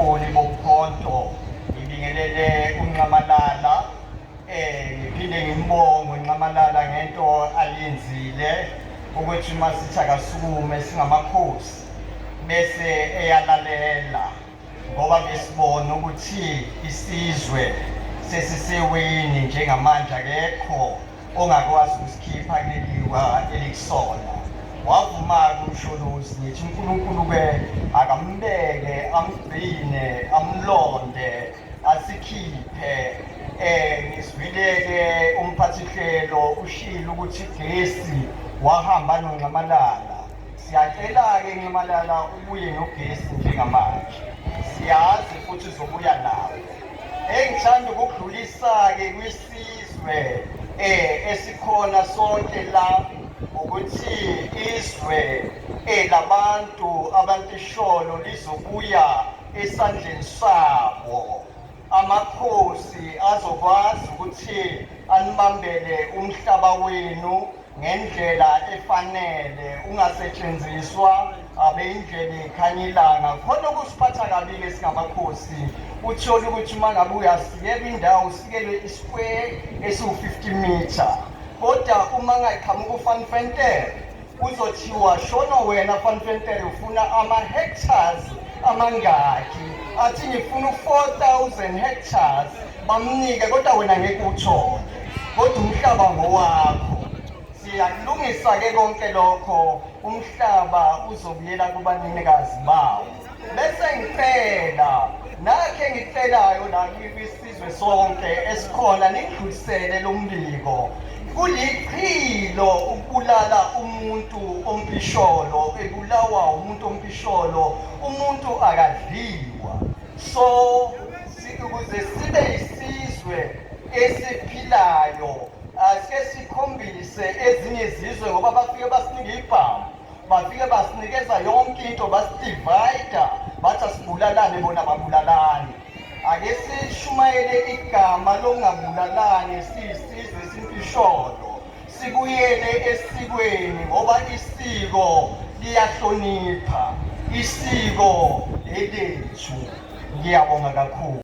Ubuholi bokhonto ngibingelele uNxamalala eh ngiphinde ngimbonge uNxamalala ngento aliyenzile ukuthi uma sithi akasukume singamakhosi bese eyalalela ngoba besibona ukuthi isizwe sesiseweni njengamanje akekho ongakwazi ukusikhipha kuleliwa elikusona wavuma-ke umsholozi ngithi unkulunkulu-ke akambeke amgcine amlonde asikhiphe eh ngisibile-ke umphathihlelo ushilo ukuthi gesi wahamba nonxamalala siyacela-ke nxamalala ubuye nogesi njengamanje siyazi futhi zobuya nawo engithanda ukudlulisa-ke kwisi Isizwe eh esikhona sonke la ukuthi izwe elabantu eh, abantisholo lizobuya esandleni sabo amakhosi azokwazi ukuthi anibambele umhlaba wenu ngendlela efanele ungasetshenziswa abeyindlela ekhanya ilanga khona okusiphatha kabili esingamakhosi uthole ukuthi uma ngabe uyasikelwa indawo usikelwe isquare esiwu-50 meter kodwa uma ngaqhamuka ufanfentere kuzothiwa shono wena fanfentere ufuna ama-hectars amangaki athi ngifuna u-4 000 hectars Bamnike kodwa wena ngeke uthole. Kodwa umhlaba ngowakho. Siyakulungisa ke konke lokho. Umhlaba uzobuyela kubanikazi bawo. Bese ngicela nakhe ngicelayo la kwisizwe sonke esikhona ningidlulisele lo mbiko kulichilo ukubulala umuntu ompisholo ebulawa umuntu ompisholo umuntu akadliwa So ukuze sibe isizwe esiphilayo asike sikhombise ezinye izizwe ngoba bafike basinika ibhamu bafike basinikeza yonke into basidivayida bathi asibulalane bona babulalane ake sishumayele igama lokungabulalane siyisizwe esimpisholo Sibuyele esikweni ngoba isiko liyahlonipha isiko elethu. Ngiyabonga kakhulu.